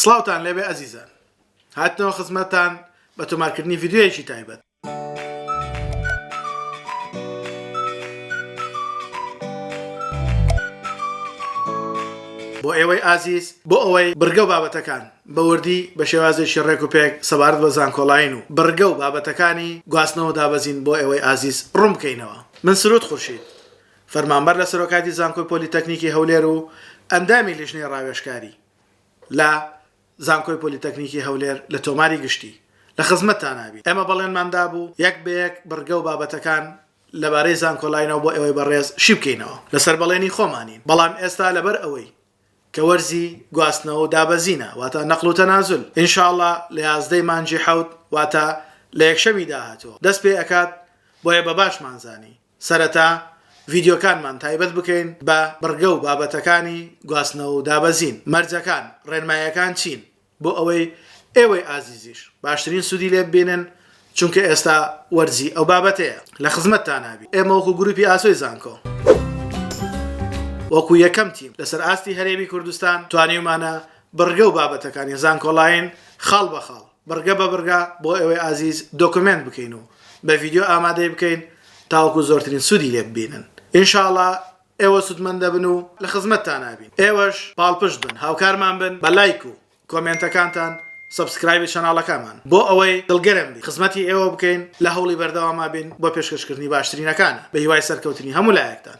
سڵاوتان لێبێ ئەزیزان هاتنەوە خزمەتتان بە تۆمارکردنی ڤیدیۆیەکی تایبەت. بۆ ئێوەی ئازیز بۆ ئەوەی بڕگە و بابەتەکان بە وردی بە شێوازێکی ڕێک و پێک سەبارەت بە زانکۆلاین و بڕگە و بابەتەکانی گواستنەوە دابەزین بۆ ئێوەی ئازیز ڕوون بکەینەوە من سرود خورشید فەرمانبەر لە سەرۆکاتی زانکۆی پۆلیتەکنیکی هەولێر و ئەندامی لیژنەی ڕاوێژکاری لە زانکۆی پۆلیتەکنیکی هەولێر لە تۆماری گشتی لە خزمەتتانا بین. ئێمە بەڵێنمان دابوو یەک بە یەک بڕگە و بابەتەکان لەبارەی زانکۆلاینەوە بۆ ئێوەی بەڕێز شی بکەینەوە. لەسەر بەڵێنی خۆمانین. بەڵام ئێستا لەبەر ئەوەی کە وەرزی گواستنەوە و دابەزینە واتە نقل و تنازل ان شاء اللە لە یازدە ی مانگی حەوت واتە لە یەکشەمی داهاتووە دەست پێ ئەکات بۆیە بە باشمان زانی سەرەتا ڤیدیۆکانمان تایبەت بکەین بە بڕگە و بابەتەکانی گواستنەوە و دابەزین، مەرجەکان، ڕێنمایەکان چین، بۆ ئەوەی ئێوەی ئازیزیش باشترین سوودی لێ ببینن، چونکە ئێستا وەرزی ئەو بابەتەیە. لە خزمەتتانا بین. ئێمە وەکو گروپی ئاسۆی زانکۆ، وەکو یەکەم تیم لەسەر ئاستی هەرێمی کوردستان، توانیومانە بڕگە و بابەتەکانی زانکۆلاین خاڵ بە خاڵ، بڕگە بە بڕگە بۆ ئێوەی ئازیز دۆکۆمێنت بکەین و بە ڤیدیۆ ئامادەی بکەین تاوەکو زۆرترین سوودی لێ ببینن ان شاء اللە ئێوە سوودمەند دەبن و لە خزمەتتانا بین ئێوەش پاڵپشت بن هاوکارمان بن بە لایک و کۆمێنتەکانتان سەبسکرایبی چەناڵەکامان بۆ ئەوەی دڵگەرم بین خزمەتی ئێوە بکەین لە هەوڵی بەردەواما بین بۆ پێشکەشکردنی باشترینەکانی بە هیوای سەرکەوتنی هەموو لایەکتان.